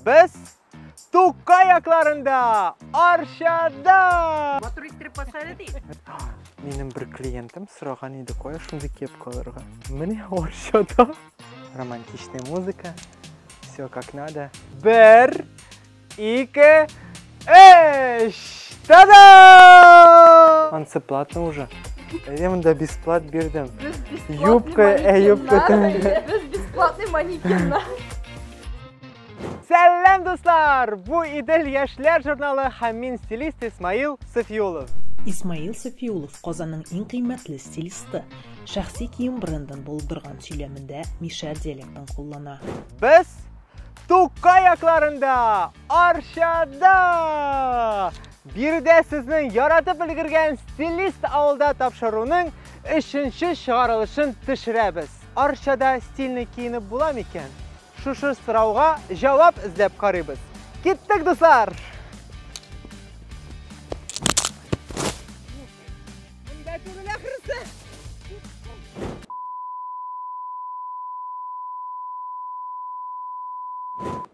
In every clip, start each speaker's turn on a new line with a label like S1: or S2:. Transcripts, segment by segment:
S1: Без Тукка якларында, Арчада! Матур иттереп
S2: басады ди. Минем бер
S1: клиентым сораган иде, кая шундый кепка алырга. Менә Арчада. Романтичная музыка. Все как надо. Бер, ике, Эш! Та-да! Анцеплатно уже. Әйе, мында бесплат бирдем. Юбка, ә юбка тәңге. Без бесплатный
S3: манекеннар.
S1: Сәлам, дуслар! Бу Идел яшьләр журналы һәм мин стилист Исмаил Сафиулов. Исмаил
S4: Сафиулов Казанның иң кыйммәтле стилисты. Шәхси кием брендын булдырган сөйләмендә Миша диалектын куллана. Без
S1: Тукай якларында Арчада! Биредә сезнең яратып өлгергән стилист авылда тапшыруның өченче чыгарылышын төшерәбез. Арчада стильный киенеп була микән? Шушы сорауга җавап эзләп карыйбыз. Киттек, дуслар!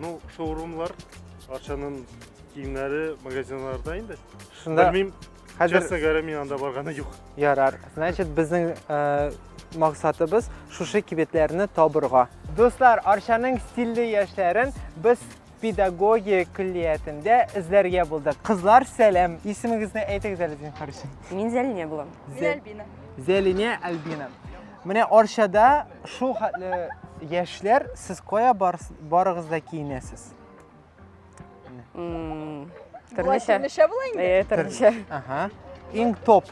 S5: Ну, шоурумлар, Арчаның киемнәре магазинларда инде. Шунда Белмим,
S1: хәзер
S5: честно говоря, мин анда барганы юк. Ярар. Значит,
S1: безнең э, максатыбыз шушы кибетләрне табырга. Дуслар, Арчаның стильле яшьләрен без педагогия көллиятендә эзләргә булдык. Кызлар, сәлам. Исемегезне әйтегез әле, зинһар өчен. Мин Зәлинә булам.
S2: Зәлбина.
S3: Зәлинә
S1: Альбина. Менә Арчада шул хәтле яшьләр, сез кая барыгыз да киенәсез?
S3: Төрлечә. Төрлечә була инде. Э, төрлечә. Ага.
S1: Иң топ.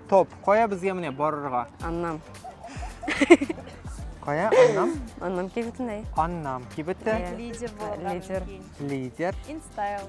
S1: Топ. Кая безгә менә барырга? Аннам. Кая? Аннам? Аннам кибетендә.
S2: Аннам кибете.
S1: Лидер булырга.
S3: Лидер. Лидер.
S1: Инстайл.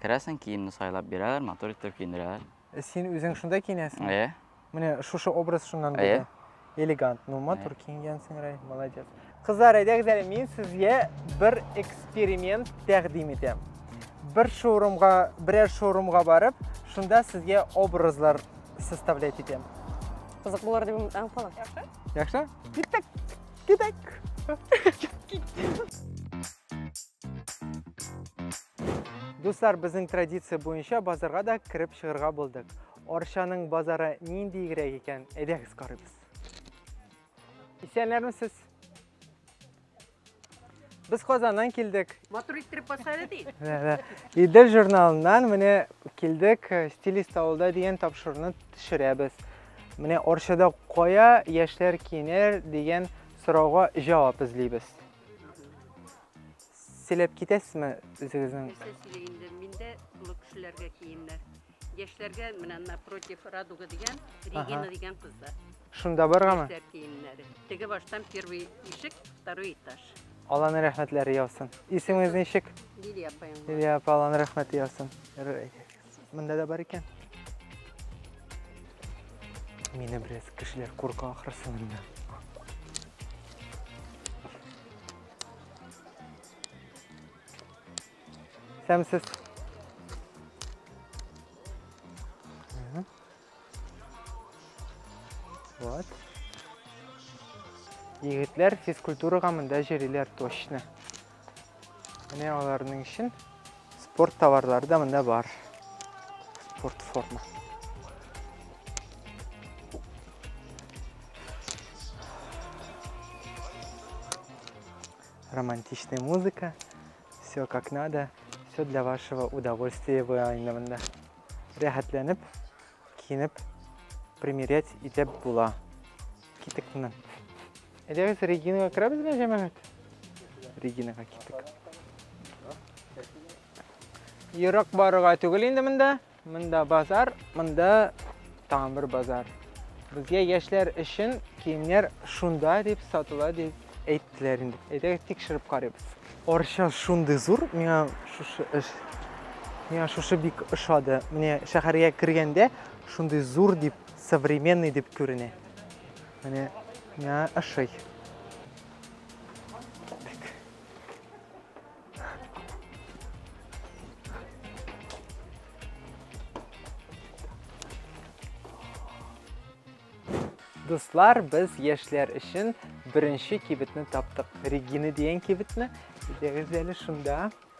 S6: Керәсең, киемне сайлап бирәләр, матур итеп киендерәләр. Э, син үзең шунда
S1: киенәсең? Әйе. Менә
S6: шушы
S1: образ шуннан булды.
S6: Элегант,
S1: ну матур киенгәнсең, Рай, молодец. Кызлар, әйдәгез әле, мин сезгә бер эксперимент тәкъдим итәм. Бер шоурумга, берәр шоурумга барып, шунда сезгә образлар составлять итәм. Кызык булыр
S2: дип үмитләнеп калам. Яхшы? Яхшы?
S1: Киттек. Киттек. Дуслар, безнең традиция буенча базарга да кереп чыгырга булдык. Арчаның базары нинди игрәк икән, әйдәгез карыйбыз. Исәнләрме сез? Без Казаннан килдек. Матур иттереп басады
S2: ди. Идел
S1: журналыннан менә килдек, э, стилист авылда дигән тапшыруны төшерәбез. Менә Арчада кая яшьләр кинер дигән сорауга җавап эзлибез. сөйләп китәсезме үзегезнең нәрсә сөйли инде миндә
S2: олы кешеләргә киемнәр яшьләргә менә напротив радуга дигән регина дигән кызда шунда баргамы
S1: яшьләр киемнәре
S2: теге баштан первый ишек второй этаж алланың рәхмәтләре
S1: яусын исемегез ничек лилия апаең
S2: лилия апа алланың
S1: рәхмәте яусын
S2: Монда
S1: да бар икән. Мине бераз кешеләр курка ахрысы монда. Сәмсез. Вот. Егетләр физкультурага монда җөриләр точно. Менә аларның өчен спорт товарлары да монда бар. Спорт форма. Романтичная музыка. Все как надо. Все для вашего удовольствия и вайна. Рәхәтләнеп киенеп примерять итеп була. Китек моннан. Әйдәгез Регинага керәбезме, җәмәгать? Регинага китек. Ерак барырга түгел инде монда. Монда базар, монда тагын бер базар. Безгә яшьләр өчен киемнәр шунда дип сатыла дип Әйттеләр инде. Әйдәгез тикшереп карыйбыз. Арча шундый зур, миңа шушы эш миңа шушы бик ошады. Менә шәһәргә кергәндә шундый зур дип, современный дип күренә. Менә миңа ошый. Дуслар, без яшьләр өчен беренче кибетне таптык. Регина дигән кибетне. Әйдәгез әле шунда.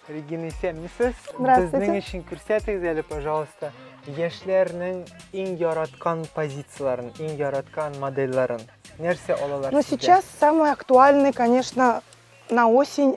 S1: Регина исәнмесез. Безнең өчен күрсәтегез әле, пожалуйста, яшьләрнең иң яраткан позицияләрен, иң яраткан модельләрен. Нәрсә алалар? Ну, сейчас самый
S7: актуальный, конечно, на осень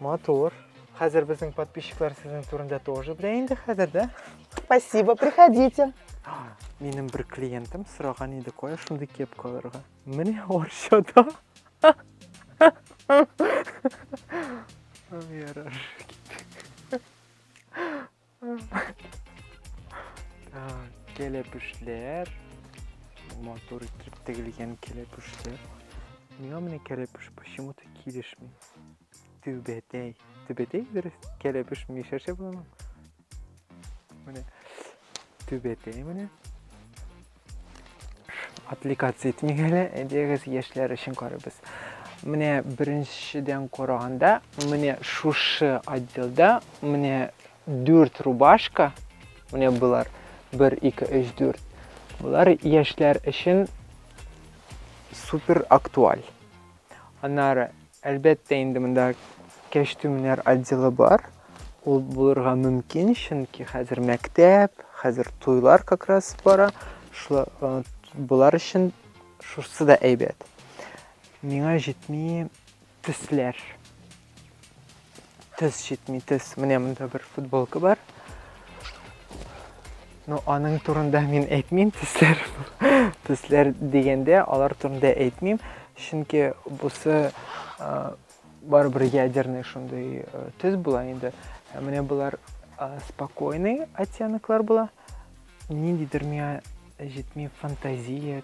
S7: Матур.
S1: Хәзер безнең подписчиклар сезнең турында тоже белә инде хәзер, да? Спасибо,
S7: приходите. Минем
S1: бер клиентым сораган иде кая шундый кепка алырга. Менә Арчада. Ярар. Кәләпүшләр. Матур итеп тегелгән кәләпүшләр. Миңа менә кәләпүш почему-то килешми. Түбәтәй. Түбәтәй дөрес. Кәләпүш мишәрчә буламы? Менә. Түбәтәй менә. Отвлекаться итмик әле, әйдәгез яшьләр өчен карыйбыз. Менә беренчедән караганда, менә шушы отделда менә дүрт рубашка, менә болар 1, 2, 3, 4. Болар яшьләр өчен супер актуаль. Аннары, әлбәттә инде, монда кәчтүмнәр отделы бар. Ул булырга мөмкин, чөнки хәзер мәктәп, хәзер туйлар как раз бара. Шулар э, болар өчен шусы да әйбәт. Миңа җитми төсләр. Тез читми, тез. Менә монда бер футболка бар. Ну, аның турында мин әйтмим, тезләр. Тезләр дигәндә, алар турында әйтмим, чөнки бусы барыбер ядерный шундый тез була инде. Ә менә болар спокойный оттенклар була. Ниндидер миңа җитми фантазия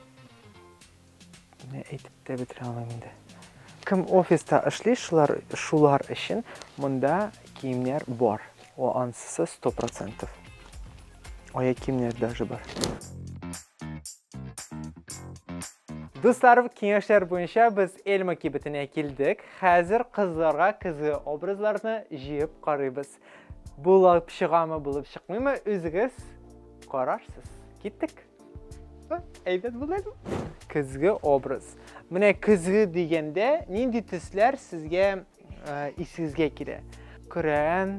S1: Менә әйтеп тә бетерә алмыйм инде. Кем офиста эшли, шулар, шулар өчен монда киемнәр бар. О, ансысы 100%. Ая киемнәр даже бар. Дуслар, киңәшләр буенча без Эльма кибетенә килдек. Хәзер кызларга көзге образларны җыеп карыйбыз. Булып чыгамы, булып чыкмыймы, үзегез карарсыз. Киттек. Әйбәт булды әле. Көзге образ. Менә көзге дигәндә нинди төсләр сезгә э, исегезгә килә? Көрән,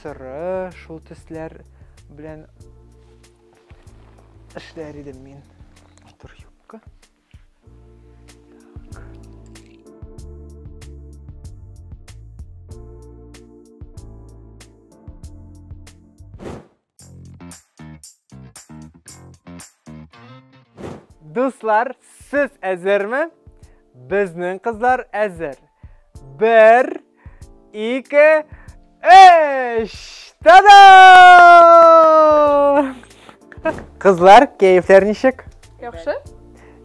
S1: соры, шул төсләр белән эшләр идем мин. Тур юбка. Дуслар, сез әзерме? Безнең кызлар әзер. Бер, ике, өч! Та-да! Кызлар, кәефләр ничек? Яхшы.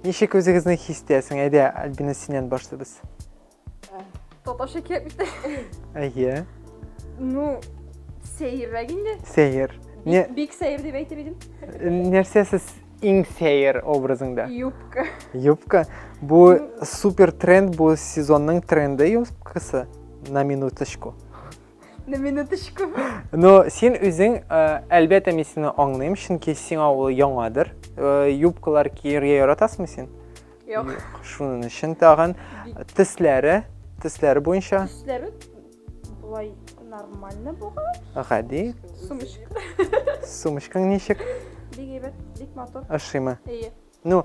S3: Ничек
S1: үзегезне хис итәсең? Әйдә, Альбина, синнән башлыйбыз.
S3: Татарча кирәкмеш тә. Әйе.
S1: Ну,
S3: сәеррәк инде. Сәер.
S1: Не, Бик сәер
S3: дип әйтер идем. нәрсә сез
S1: иң сәер образыңда? Юбка.
S3: Юбка.
S1: Бу супер тренд, бу сезонның тренды юбкасы. На минуточку. На
S3: минуточку. Но син
S1: үзең, э, әлбәттә, мин сине аңлыйм, чөнки сиңа ул яңадыр. Э, Юбкалар кияргә яратасыңмы син? Юк.
S3: Шуның өчен
S1: тагын тисләре, тисләре буенча. Тисләре
S3: болай нормально булган. Гади.
S1: Сумочка.
S3: Сумочкаң
S1: ничек? Бик әйбәт,
S3: бик матур. Ошыймы? Әйе.
S1: Ну,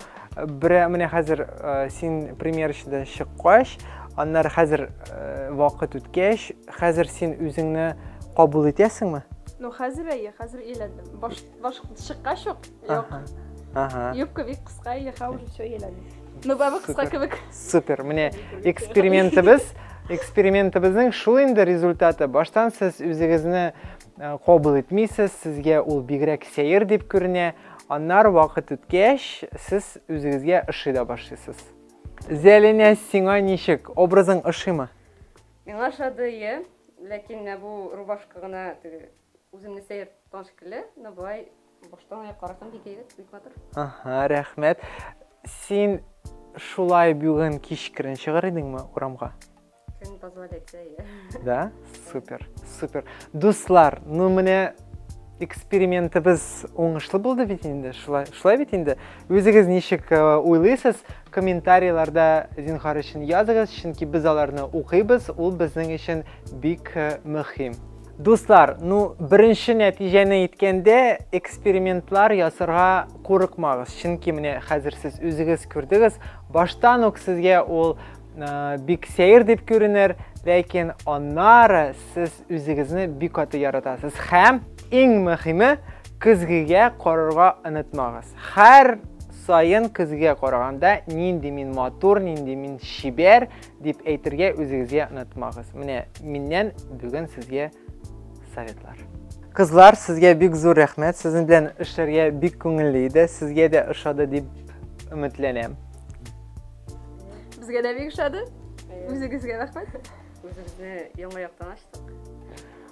S1: бере менә хәзер э, син примерочныйдан чыккач, аннары хәзер э, вакыт үткәч, хәзер син үзеңне кабул итәсеңме? Ну, хәзер әйе,
S3: хәзер өйләндем. Башта Баш чыккач ук, юк. Ага.
S1: Юбка бик кыска,
S3: или ха уже все еләне. Ну, бабы кыска кебек. Супер, менә
S1: экспериментыбыз, экспериментыбызның шул инде результаты. Баштан сез үзегезне э, кабул итмисез, сезгә ул бигрәк сәер дип күренә. Аннар вакыт үткәч, сез үзегезгә ошый да башлыйсыз. Зәлинә, сиңа ничек? Образың ошыймы? Миңа
S2: ошады, иә. Ләкин бу рубашка гына Үземне сәер тоткан шикелле, но болай баштан аяк карасам бик әйбәт, бик матур. Ага,
S1: рәхмәт. Син шулай бүген кичкерен чыгар идеңме урамга? Көн
S2: позволяется, иә. Да?
S1: Супер, супер. Дуслар, ну менә экспериментыбыз уңышлы булды бит инде, шулай, шулай бит инде. Үзегез ничек э, уйлыйсыз? Комментарийларда зинхар өчен языгыз, чөнки без аларны укыйбыз, ул безнең өчен бик э, мөһим. Дуслар, ну беренче нәтиҗәне әйткәндә, экспериментлар ясарга курыкмагыз. Чөнки менә хәзер сез үзегез күрдегез, баштан ук сезгә ул э, бик сәер дип күренер, ләкин аннары сез үзегезне бик каты яратасыз. Һәм иң мөһиме, көзгегә карарга онытмагыз. Һәр сайын көзгегә караганда, нинди мин матур, нинди мин чибәр, дип әйтергә үзегезгә онытмагыз. Менә миннән бүген сезгә советлар. Кызлар, сезгә бик зур рәхмәт. Сезнең белән эшләргә бик күңелле иде. Сезгә дә ошады дип өметләнәм.
S3: Безгә дә бик ошады. Үзегезгә рәхмәт. Үзебезне
S2: яңа яктан ачтык.